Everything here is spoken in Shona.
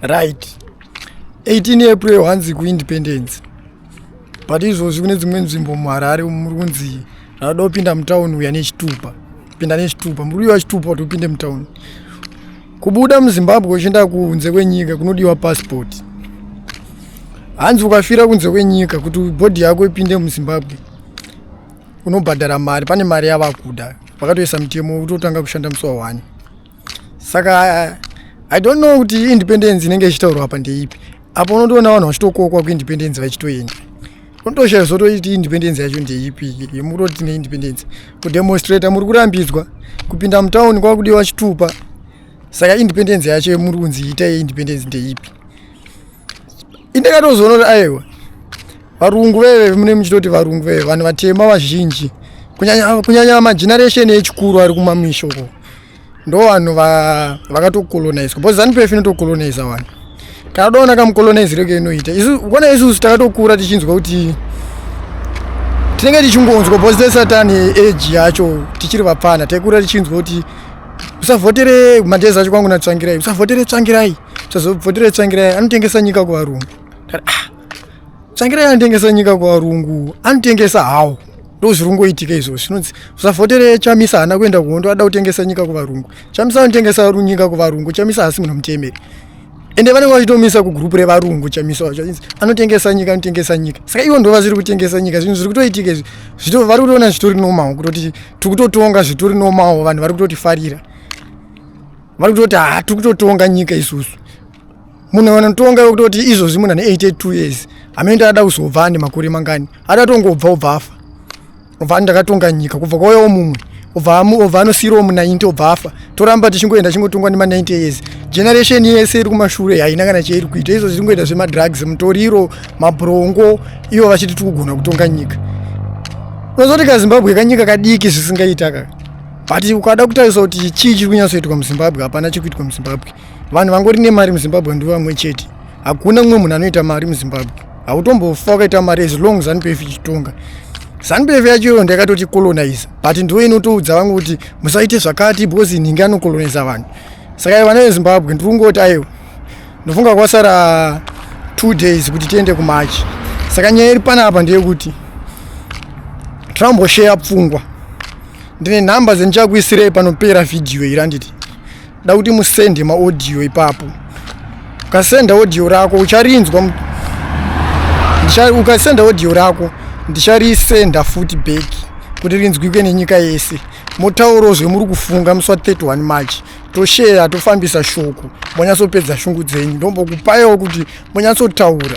right 18 april hanzi kuindependence but izvozvi kune dzimwe nzvimbo muharare muri kunzi rada kupinda mutown uya nechitupa pinda nechitupa muri uya wachitupa kuti upinde mutown kubuda muzimbabwe uchienda kunze kwenyika kunodiwa pasipoti hanzi ukafira kunze kwenyika kuti bhodhi yako ipinde muzimbabwe unobhadhara mari pane mari yavakuda vakatoisa mutemo utotanga kushanda musi wahwani saka i don't know kuti independence inenge ichitaurwa apa ndeipi apo unotoona vanhu vachitokokwa kuindependence vachitoenda unotoshaya zvotoiti independence yacho ndeipi yemukutoti tine independence kudemonstrata muri kurambidzwa kupinda mutown kwakudiwa chitupa saka independence yacho yemuri kunzi ita yeindependence ndeipi indikatozoona kuti aiwa varungu veve mune muchitoti varungu veve vanhu vatema vazhinji kunyanya mageneration echikuru ari kumamisha uko ndo vanhu vakatokolonizwa because zanupf inotokoloniza vanhu kana doona kamukoloniziro keinoita kona isusu takatokura tichinzwa kuti tinenge tichingonzwa because tesatan age yacho tichiri vapfana taikura tichinzwa kuti usavhotere madhezi acho kwangu natsvangirai usavhotere tsvangirai tozobvotera tsvangirai anotengesa nyika kuvarungu ah, tsvangirai anotengesa nyika kuvarungu anotengesa hawo ndo zviri kungoitika izvo zvinonzi usavhotere chamisa haana kuenda kuhondo ada kutengesa nyika kuvarungu chamisa anotengesa nyika kuvarungu chamisa haasi munhu mutemeri ende vanenge vachitomisa kugrupu revarungu chamisa wacho anotengesa nyika anotengesa nyika saka ivo ndo vazviri kutengesa nyika zvinhu zviri kutoitika izvi zvito vari kutoona zvitori nomawo kutoti tiri kutotonga zvitori nomawo vanhu vari kutotifarira vari kutoti ha tiri kutotonga nyika isusu munhu anotonga wekutoti izvozvi munhu ane 82 years hamene ndakada kuzobva ane makore mangani adatongobva obva afa obva ani ndakatonga nyika kubva kwauyawo mumwe obva obva anosiirawo mu90 obva afa toramba tichingoenda chingotongwa nema90 years generation yese iri kumashure haina kana chairi kuita izvozvi iri ngoita zvemadrugs mutoriro mabrongo ivo vachiti tikugona kutonga nyika unozoti kazimbabwe kanyika kadiki zvisingaita kaka but ukada kutarisa kuti chii chiri kunyatsoitwa muzimbabwe hapana chiri kuitwa muzimbabwe vanhu vangori nemari muzimbabwe ndivo vamwe chete hakuna mumwe munhu anoita mari muzimbabwe hautombofa ukaita mari as long zanupf ichitonga zanupf yacho iyo ndakatoti colonize but ndiwo inotoudza vamwe kuti musaite zvakati because inhingi anocoloniza vanhu saka vana vezimbabwe ndiri kungoti aiwa ndofunga kwasara two days kuti tiende kumachi saka nyaya iri panapa ndeyekuti trump osheya pfungwa ndine nhamba dzendichakuisirei panopera vhidhiyo iri handiti da kuti musende maaudio ipapo ukasenda audio rako ucharinzwa ukasenda audio rako ndicharisenda futi back kuti rinzwike nenyika yese motauro zvemuri kufunga musi wa 31 march tosheya tofambisa shoko monyatsopedza shungu dzenyu ndombokupayawo kuti monyatsotaura